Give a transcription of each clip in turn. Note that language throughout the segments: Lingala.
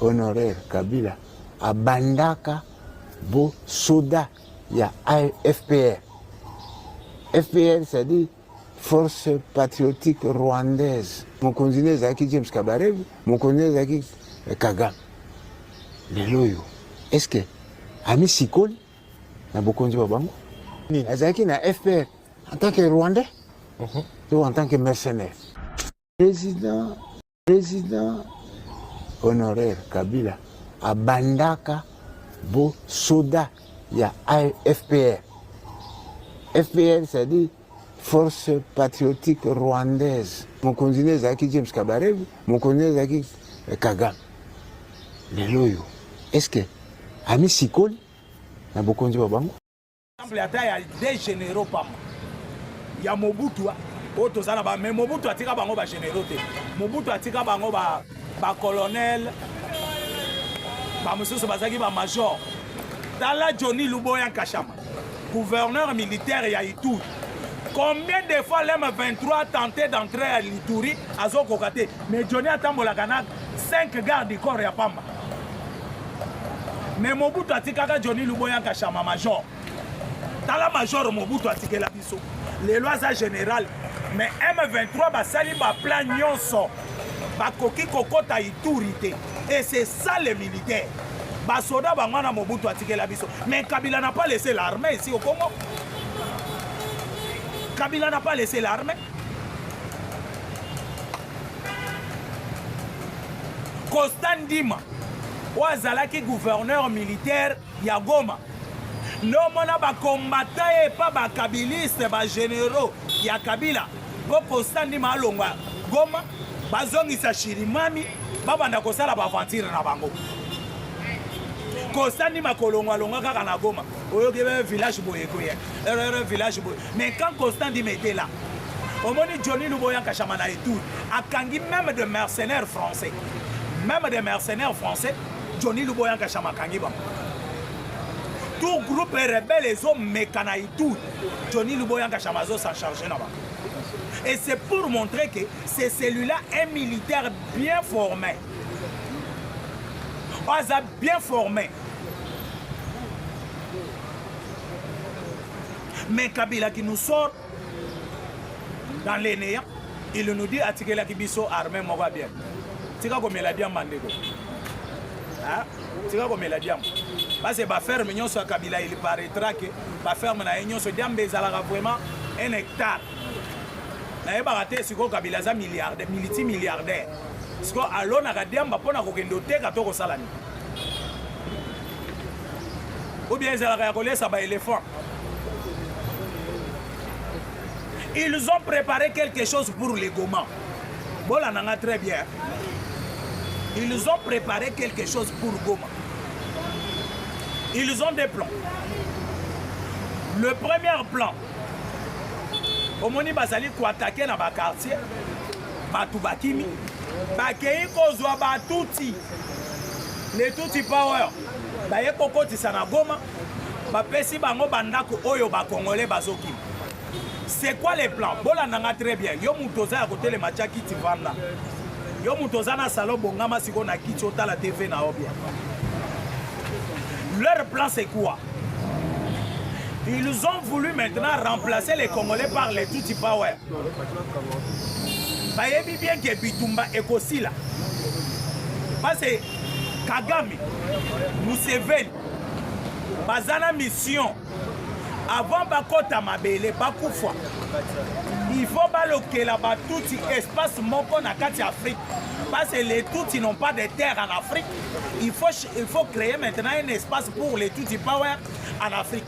honorer kabila abandaka bo soda ya fpr fpr c'est-à-dire force patriotique rwandaise mokonzi ne ezalaki james kabarevu mokonzi ne ezalaki eh, kagame lelo oyo est ce que amisikoli na bokonzi bwa bango azalaki na fpr en tant que rwandais mhm. to en tant que mercenaire président President honoraire Kabila abandaka bo soda ya FPR. FPR c'est-à-dire Force Patriotique Rwandaise. Mokonzi ne ezalaki James Kabarebe, mokonzi ne ezalaki eh, Kagame. Lelo oyo, est-ce que ami sikoli na bokonzi ba bango? exemple ata ya des généraux pamba ya mobutu oyo toza na ba mais mobutu atika bango ba généraux te mobutu atika bango ba ba colonel bamosusu bazalaki bamajor tala johnny luboya nkashama gouverneur militaire ya ituri combien de fois lm 23 tenté d'entrer à lituri azokoka te mais johnny atambolaka na 5 garde du corps ya pamba mais mobutu atikaka johnny luboya kashama major tala major mobutu atikela biso lelo aza général mais m23 basali baplan nyonso bakoki kokɔta ituri te et c'est ça le militaire basoda bango wana mobutu atikela biso mais kabila na pas laisse l'armée esi okongo kabila na pas laisse l'armée Costa Ndima oyo azalaki gouverneur militaire ya Goma nde omona bakombata ye epa bakabiliste bageneraux ya Kabila mpo Costa Ndima alongwa Goma bazongisa Shirimami babanda kosala baventire na bango Costa Ndima kolongwalongwa kaka na Goma oyoki village boye ekoya erreur village boye mais quand constant dit mete là omoni johnny luboya kashama na etour akangi même de mercenaires français même de mercenaires français johnny luboya kashama akangi bango tout groupe rebelle ezomeka na etour johnny luboya kashama azo s'en charge na bango et c'est pour montrer que c'est celui-là un militaire bien formé aza bien formé mais kabila qui nous sort dans les néants il nous dit atikelaki biso armée moko ya bien tika komela diamba ndeko tika komela diamba base baferme nyonso ya kabila il paraîtra que baferme na ye nyonso diamba ezalaka vraiment un hectare nayebaka te sikoyo kabila aza milliardaire militi milliardaire sikoyo alonaka diamba mpo na kokende oteka to kosala nini ou bien ezalaka ya kolesa ba elephant ils ont préparé quelque chose pour les goma bolanda nga très bien ils ont préparé quelque chose pour goma ils ont des plans le premier plan omoni bazali koatake na bakartier bato bakimi bakei kozwa batuti Les Tutsi Power baye kokotisa na Goma bapesi bango bandako oyo bakongole bazokima c'est quoi le plan bolanda nga très bien yo moto oza ya kotelema tya kiti vanda yo moto oza na salon bongama sikoyo na kiti otala tv na yo bien leur plan c'est quoi ils ont voulu maintenant remplacer les congolais par les tutsi power bayebi bien ke bitumba ekosila pase kagame museveni baza na mission avant bakɔta mabele bakufa il faut balokela batuti espace moko na kati ya afrique parce que les tutsi n'ont pas de terre en afrique il faut, il faut créer maintenant un espace pour les tutsi power en afrique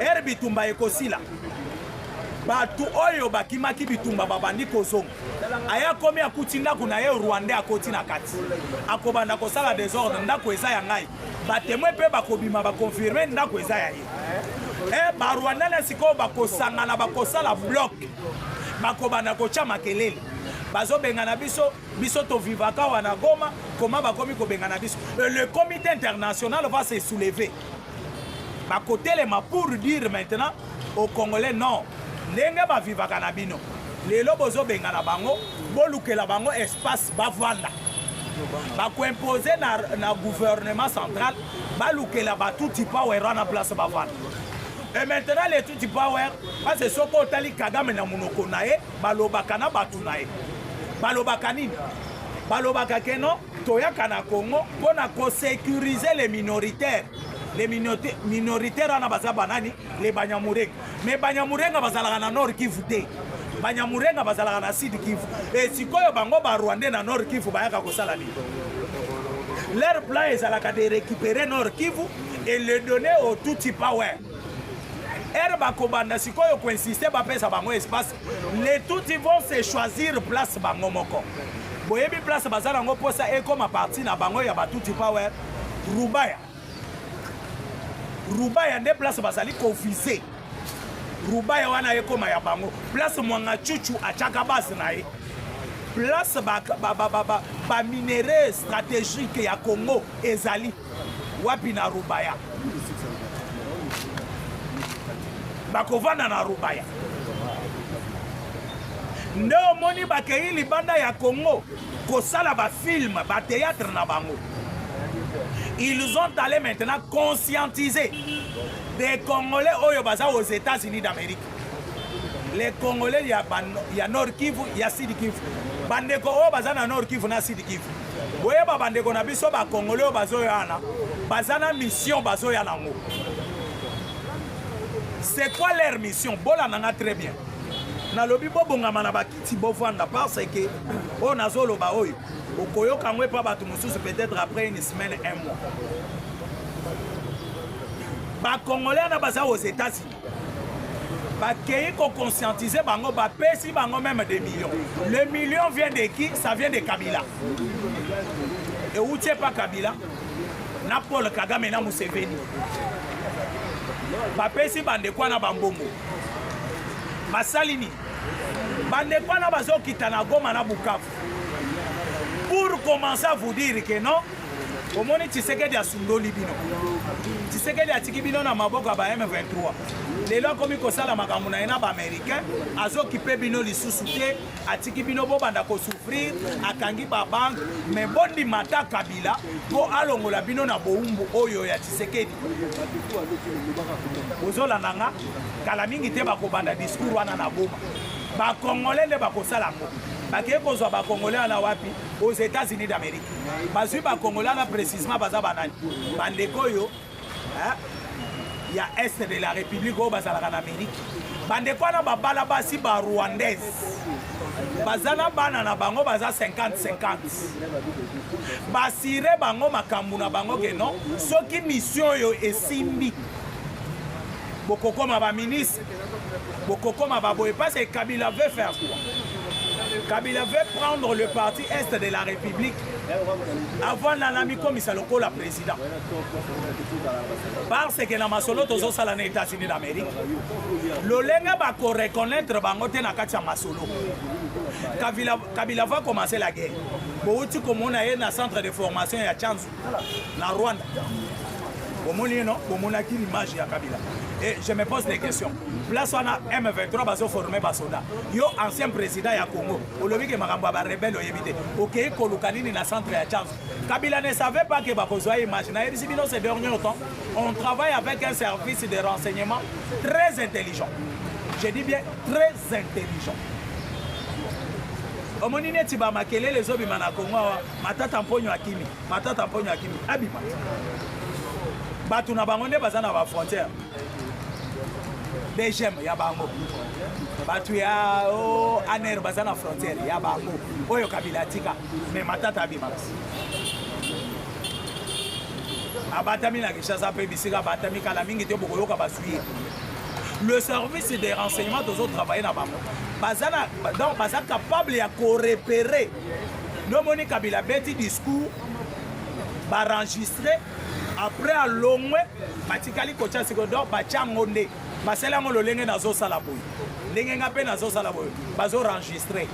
Ere bitumba ekosila. Bato oyo bakimaki bitumba babandi kozonga. Aya komi akuti ndako na ye Rwanda akoti na kati. Akobanda kosala desordre ndako eza ya ngai. Batemwe mpe bakobima bakonfirme ndako eza ya ye. E barwanda na sikoyo bakosangana bakosala bloc bakobanda kotya makelele bazobengana biso biso tovivaka wana goma koma bakomi kobengana biso le comité international va se soulever bakotelema pour dire maintenant au congolais non ndenge bavivaka na bino lelo bozobengana bango bolukela bango espace bavanda bakoimpose na, na gouvernement central balukela batuti power wana place bavanda e maintenant le tuti power pase soki otali kagame na monoko na ye balobaka na bato na ye balobaka nini balobaka keno Toyaka na Congo mpo na ko securiser les minoritaires les minoritaires wana baza banani les Banyamurenge mais Banyamurenga bazalaka na Nord Kivu te Banyamurenga bazalaka na Sud Kivu e sikoyo bango ba Rwandais na Nord Kivu bayaka kosala nini leur plan ezalaka de récupérer Nord Kivu et le donner au Tutsi Power ere bakobanda sikoyo koinsiste bapesa bango espace les tuti vont se choisir place bango moko boyebi place baza nango mposa ekoma parti na bango ya batuti power rubaya rubaya nde place bazali kovise rubaya wana ekoma ya bango place mwanga chuchu atyaka base na ye place baminerais ba, ba, ba, ba stratégique ya congo ezali wapi na rubaya bakovanda na rubaya nde omoni bakei libanda ya congo kosala bafilme bateatre na bango ils ont allé maintenant conscientiser des congolais oyo baza aux états-unis d'amérique les congolais ya, ba, ya nord kivu ya sud kivu bandeko oyo baza na nord kivu na sud kivu boyeba bandeko na biso bacongolais oyo bazoya wana baza na mission bazoya nango c'est quoi leur mission bolanda nga très bien nalobi bobongama na bakiti bovanda parce que oyo nazoloba oyo okoyoka yango epa bato mosusu peut-être après une semaine un mois bacongolais wana baza aux états-unis bakei ko conscientiser bango bapesi bango meme des millions le million vient de qui ça vient de kabila euti epa kabila na paul kagame na museveni bapesi bandeko wana bambongo basali nini bandeko wana bazokita na goma na bukavu pour commencer à vous dire que non omoni tshisekedi asundoli bino tshisekedi atiki bino na maboko ya ba m23 lelo akomi kosala makambo na ye na baaméricain azokipe bino lisusu te atiki bino bobanda kosouffrir akangi babanke me bondima ata kabila mpo alongola bino na bowumbu oyo ya tshisekedi bozolanda nga kala mingi te bakobanda discours wana na boma bakongole nde bakosala yango bakei kozwa bakongole wana wapi aux Etats-Unis d'Amérique. Bazui ba Congolais na précisément baza banani. Bandeko oyo hein il y a est de la République oyo bazalaka na Amérique. Bandeko wana babala basi ba Rwandaise. Baza na bana na bango baza 50 50. Basire bango makambo na bango ke non soki mission oyo esimbi bokokoma ba ministre bokokoma baboye parce que kabila veut faire quoi kabila veut prendre le parti est de la république avant nana mikomisa lokola président parce que na masolo tozosala na états-unis d'amérique lolenge bakoreconnaitre bango te na kati ya masolo kabila va commencer la guerre bowuti komona ye na centre de formation ya chanzo na Rwanda bomoni ye no bomonaki l'image ya kabila et je me pose des questions place wana m23 bazoforme basoda yo ancien président ya congo olobi ke makambo ya barebele oyebi te okei koluka nini na centre ya change kabila ne savait pas ke bakozwa ye image nayebisi bino ce dernier temps on travaille avec un service de renseignement très intelligent je dis bien très intelligent omoni neti bamakelele ezobima na congo awa Matata Mponyo akimi, Matata Mponyo akimi, abima. Bato na bango nde baza na ba frontière. BGM ya bango. Bato ya oh, ANR baza na frontière ya bango. Oyo Kabila atika, mais Matata abima. abatami na kinshasa mpe bisika abatami kala mingi te bokoyoka bazwi ye le service de renseignement tozotravaille na bango baza capable ya korepere no moni kabila abeti discours baenregistre après alongwe batikali kotya siko donc batya yango nde basali yango lolenge nazosala boye ndenge nga mpe nazosala boye bazoenregistre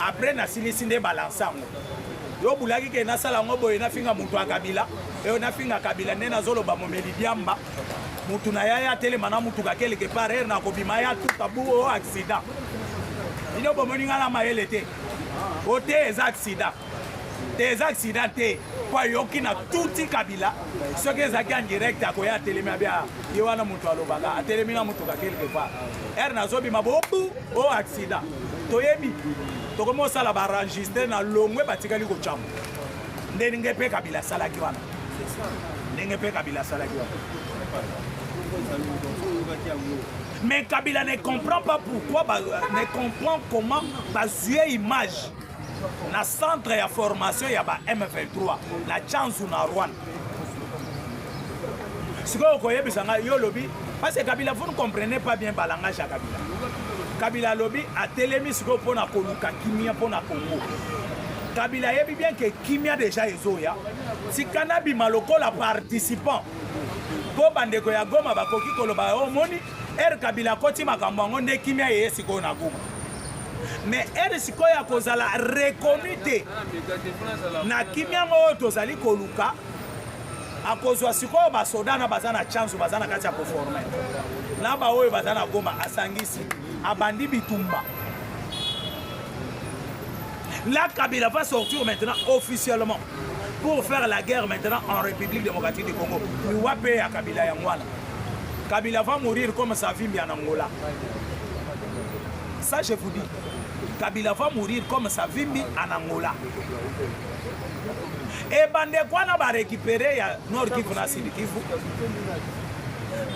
après nasilisi nde balanse yango yo obulaki ke nasala yango boye nafinga moto ya kabila eyo nafinga kabila nde nazoloba momeli diamba motu na yaya atelema na motuka keleke par heure nakobima ya tutabu o accident bino bomoni ngai na mayele te o te eza accident te eza accident te mpo ayoki na tuti kabila soki ezalaki en direct akoya atelemi abia ye wana moto alobaka atelemi na motuka quelque part ere nazobima bobu o oh, accident toyebi tokomi osala baenregistre na longwe batikali kocamba ndenge mpe kabila asalaki wana ndenge mpe kabila asalaki wana Mais Kabila ne comprend pas pourquoi, ba, ne comprend comment bazuye image na centre ya formation ya ba M23 na Chanzu na Rwanda. Sikoyo koyebisa ngai yo lobi parce que Kabila vous ne comprenez pas bien ba langage ya Kabila. Kabila alobi atelemi sikoyo mpo na koluka kimia mpo na Congo. Kabila ayebi bien que kimia deja ezoya tika nabima lokola participant mpo bandeko ya goma bakoki koloba yo omoni ere kabila akoti makambo yango nde kimia yeye sikoyo na goma mais ere sikoyo ya kozala reconnu te na kimia yango oyo tozali koluka akozwa sikoyo basoda na baza na chance baza na kati ya koforme na baoyo baza na goma asangisi abandi bitumba la kabila va sortir maintenant officiellement pour faire la guerre maintenant en République démocratique du Congo. Iwape ya Kabila ya Ngwana. Kabila va mourir comme Savimbi en Angola. Ça, je vous dis. Kabila va mourir comme Savimbi en Angola. Et Bandekwana va récupérer ya Nord Kivu na Sud Kivu.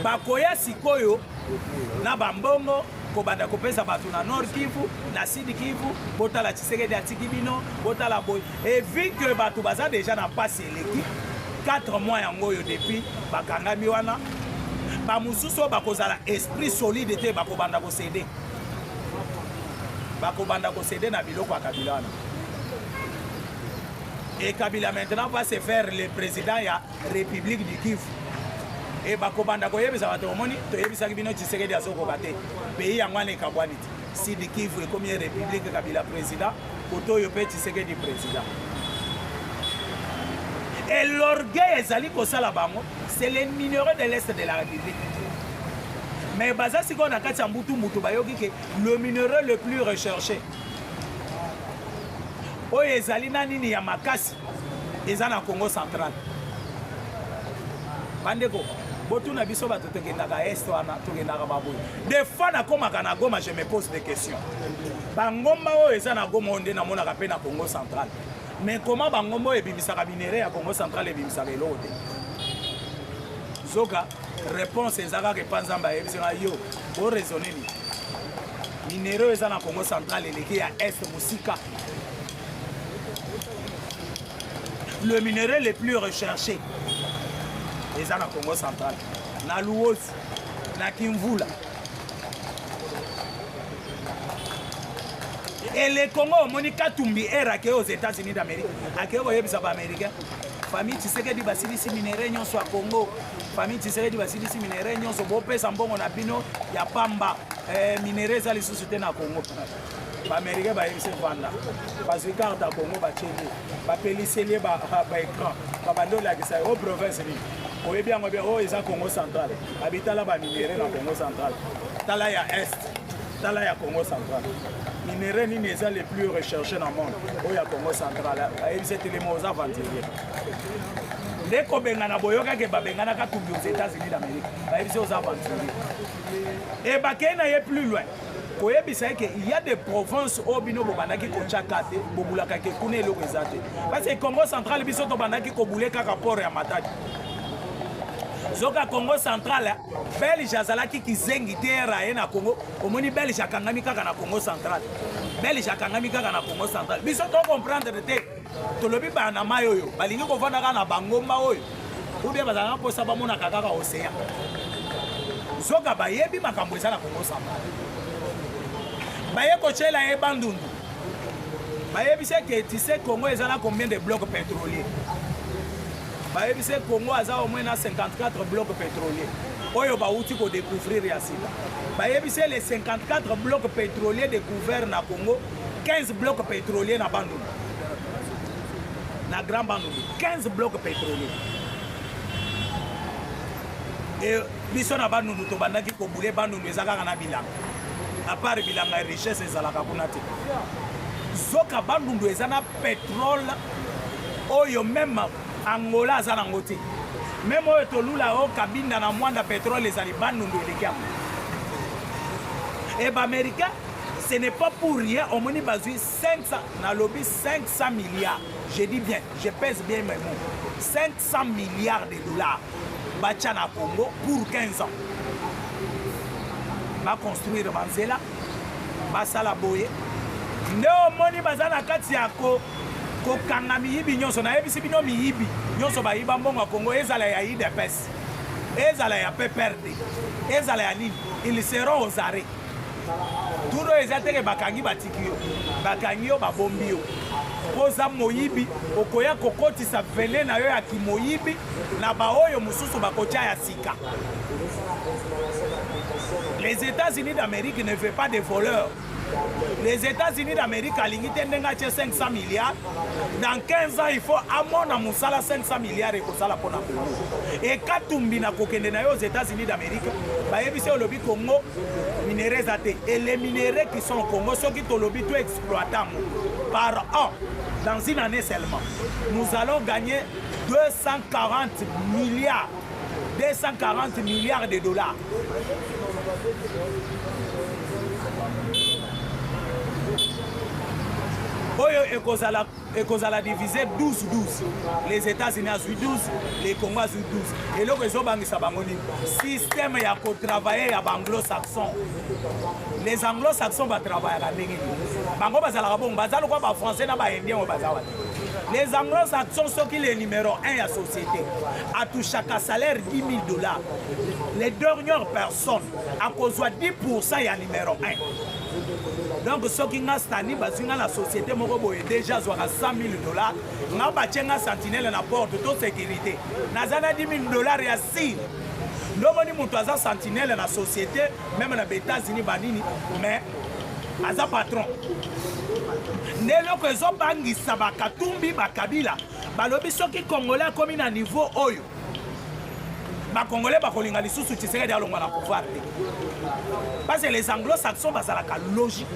Bakoya sikoyo na bambongo kobanda kopesa bato na Nord Kivu na Sud Kivu botala Tshisekedi atiki bino botala boye et vu que bato baza deja na mpasi eleki 4 mois yango oyo depuis bakangami wana bamosusu oyo bakozala esprit solide te bakobanda kosede bakobanda kosede na biloko ya kabila wana et kabila maintenant va se faire le président ya république du kivu e bakobanda koyebisa bato omoni toyebisaki bino tshisekedi azokoka te pays yango wana ekabwani te Sidi Kivu ekomi ye republique Kabila president, koto oyo pe Tshisekedi president. Et l'orgueil ezali kosala bango, c'est les minerais de l'est de la République. Mais baza sikoyo na kati ya mbutu mbutu bayoki ke le minerai le plus recherché oyo ezali na nini ya makasi eza na congo central bandeko botuna biso bato tokendaka est wana tokendaka baboye des fois nakomaka na goma je me pose des questions bangomba oyo eza na goma oyo nde namonaka mpe na congo central mais koma bangomba oyo ebimisaka minere ya congo central ebimisaka eloko te zoka réponse eza kaka epa nzambe ayebisaka yo boraisonne nini minere oyo eza na congo central eleki ya est mosika le minerai le plus recherché eza na congo central na luosi na kimvula et le congo omoni katumbi ere akei aux états-unis d'amérique akei koyebisa baaméricain famille tshisekedi basilisi minerai nyonso ya congo famille tshisekedi basilisi minerai nyonso bopesa mbongo na bino ya pamba eh, minerai eza lisusu te na congo baamerikain bayebisi vanda bazwi karte ya kongo batieli bapeliseli ye baecran babandi olakisa ye o province nini oyebi yango bia oyo eza congo central abitala baminere na congo central tala ya est tala ya congo central minere nini eza le plus recherche na monde oyo ya congo central ayebisi etelema oza aventurier nde kobengana boyokaki babenganaka tumbi aux états-unis d'amérique bayebisi oza aventurier ebakei na ye plus loin koyebisa ye ke ya de province oyo bino bobandaki kotya ka te bobulaka ke kuna eloko eza te parce congo central biso tobandaki kobule kaka port ya matadi zoka congo central belge azalaki kizengi te era ye na congo omoni belge akangami kaka na congo central belge akangami kaka na congo central biso tocomprendre te tolobi bana na mai oyo balingi kovanda kaka na bangomba oyo ubie bazalaka mposa bamonaka kaka ocean zoka bayebi makambo eza na kongo samba baye kotyela ye bandundu bayebisi eke tise congo eza na combien de bloc pétrolier bayebisi congo aza omwe na 54 bloc pétrolier oyo bawuti kodécouvrir ya sika bayebisi le 54 bloc pétrolier découvert na congo 15 bloc pétrolier na bandundu na grand bandundu 15 bloc pétrolier e biso na bandundu tobandaki kobule bandundu eza kaka na bilanga apart bilanga ya richesse ezalaka kuna te zoka bandundu eza na petrole oyo meme angola aza nango te meme oyo tolula o kabinda na mwanda petrole ezali bandundu eleki yango e baaméricain ce n'est pas pour rien omoni bazwi 500, nalobi 500 milliards, je dis bien, je pèse bien mes mots. 500 milliards de dollars batia na Congo pour 15 ans. Ba construire banzela, basala boye. Nde omoni baza na kati ya ko kokanga miyibi nyonso nayebisi bino miyibi nyonso bayiba mbongo ya kongo ezala ya idps ezala ya pprd ezala ya nini ils seront aux arrêts tour oyo eza teke bakangi batiki yo bakangi yo babombi yo mpo oza moyibi okoya kokotisa vene na yo ya kimoyibi na baoyo mosusu bakotya ya sika les états-unis d'amérique ne fait pas de voleurs les états-unis d'amérique alingi te ndenge atye 500 milliards dans 15 ans il faut amona mosala 500 milliards ekosala mpo na kongo ekatumbi na kokende na yo aux états-unis d'amérique bayebisi olobi Congo minere eza te et les minerais qui sont au Congo soki tolobi to exploita yango par an dans une année seulement nous allons gagner 240 milliards 240 milliards de dollars oyo ekozala ekozala divise 12-12 les états-unis azwi 12 le congo azwi 12 eloko ezobangisa bango nini systeme ya kotravaille ya baanglo-saxon les anglo-saxon batravayaka ndenge nini bango bazalaka bongo baza lokwa bafrançais na baindien oyo baza wana les anglo-saxon soki le numéro 1 ya société atouchaka salaire 10 000 dollars les dernières personnes akozwa 10 pourcent ya numéro 1 donc soki nga stani bazwi nga na société moko boye déjà azwaka 100 000 dollars nga batye nga sentinele na porte to sécurité naza na 10 000 dollars ya sire ndomoni moto aza sentinele na société meme na baétats-unis banini mais aza patron nde eloko ezobangisa bakatumbi bakabila balobi soki congolais akomi na niveau oyo bakongole bakolinga lisusu tshisekedi alongwa na pouvoir te parce que les anglo-saxons bazalaka logique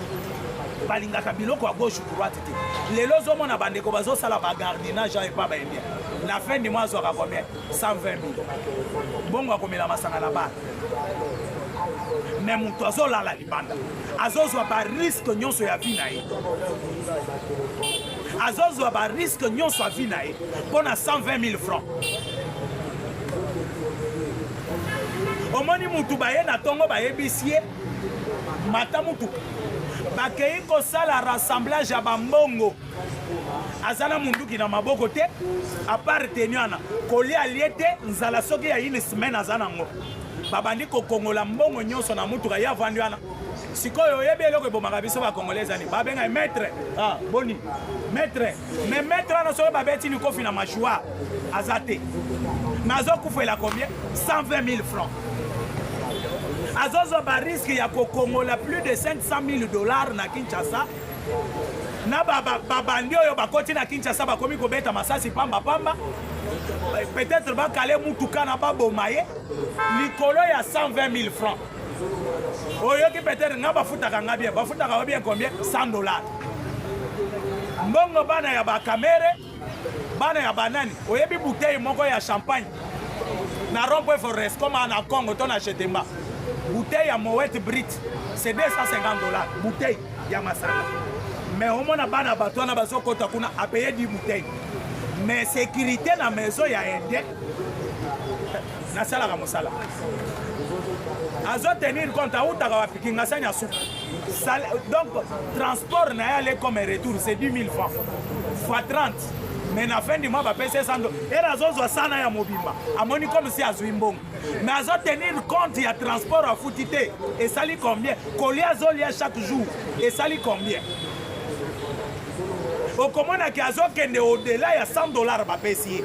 balingaka biloko ya gauche droite te lelo ozomona bandeko bazosala bagardinage ya epa baye bien na fin du mois azwaka combien 120 mille bongo akomela masanga na bana me moto azolala libanda azozwa bariske nyonso ya vi na ye azozwa ba risque nyonso ya vie na ye mpo na 120 000 francs omoni mutu baye na ntongo bayebisi ye mata mutu bakei kosala rassemblage ya bambongo aza na munduki na maboko te apart teni wana kolia alie te nzala soki ya une semaine aza nango babandi kokongola mbongo nyonso na mutuka ye avandi wana sikoyo oyebi eloko ebomaka biso ba congolais ezani babenga ye maître ah, boni maître mais maître wana soki babeti likofi na mashua aza te mais azokufela combien 120 000 francs azozwa bariske ya kokongola plus de 500 000 dollars na kinshasa na babandi oyo bakoti na kinshasa bakomi kobeta masasi pambapamba peut-être bakale mutuka na baboma ye likolo ya 120 000 francs oyoki peut-être nga bafutaka nga bien bafutaka yo bien combien 100 dollars mbongo bana ya bakamere bana ya banani oyebi bouteille moko ya champagne na rompwe forest koma na congo to na chetemba bouteille ya mowet brit c'est 250 dollars bouteille ya masanga mais omona bana bato wana bazokota kuna apaye di bouteille mais sécurité na maison ya inde nasalaka mosala azo tenir compte awutaka wapi kingasani ya suka donc transport na ye ale comme retour c'est 10 000 francs fois 30 mais na fin du mois bapesi ye sando ere azozwa sana ya mobimba amoni comme si azwi mbongo mais azo tenir compte ya transport afuti te esali combien kolia azolia chaque jour esali combien okomonaki azokende odela ya 100 dollar bapesi ye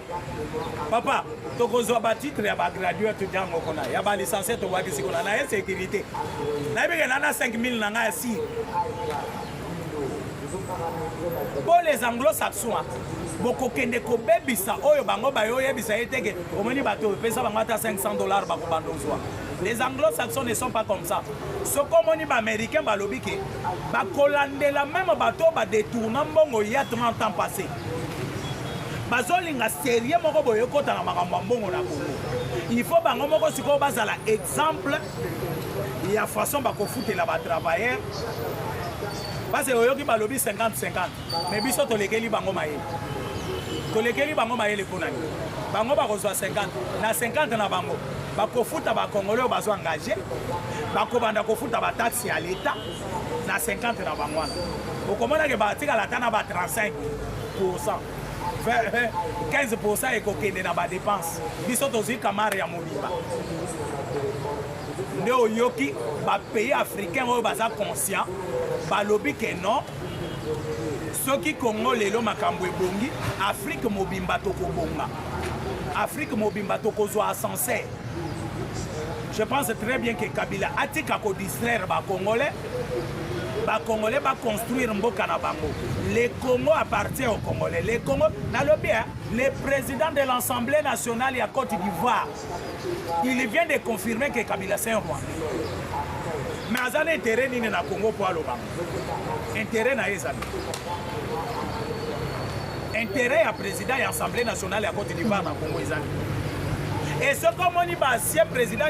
papa tokozwa batitre ya bagraduate ntango kuna ya balicencie tobwakisi kuna na insécurité nayebi ke nana 5000 na ngai ya si mpo les anglo-saxois bokokende kobebisa oyo bango bayoyebisa ye teke omoni bato oyo pesa bango ata 500 dollars bakobanda ozwa les anglo-saxons ne sont pas comme ça soki omoni baaméricain balobi ke bakolandela meme bato oyo badetourna mbongo ya 30 ans passé bazolinga serie moko boye ekota na makambo ya mbongo na kongo il faut bango moko sikoyo bazala exemple ya façon bakofutela batravailleur base oyoki balobi 50-50 mais biso tolekeli bango mayele tolekeli bango mayele mpo na nini bango bakozwa 50 na 50 na bango bakofuta bakongole oyo bazo engage bakobanda kofuta bataxe ya leta na 50 na bango wana okomonake batikala ata na ba 35 pourcent 15 pourcent ekokende na badepense biso tozwi kamare ya mobimba nde oyoki bapays africain oyo baza conscient balobi ke non soki congo lelo makambo ebongi afrike mobimba tokobonga afrike mobimba tokozwa ascenseur Je pense très bien que Kabila atika ko distraire ba Congolais. Ba Congolais ba construire mboka na bango. Le Congo appartient aux Congolais. Le Congo na le bien, le président de l'Assemblée nationale ya Côte d'Ivoire. Il vient de confirmer que Kabila c'est un roi. Mais aza na intérêt nini na Congo pour aloba? Intérêt na ye ezali. interet ya president ya assemblée nationale ya cote d'ivoire na congo ezali esoki omoni baancien president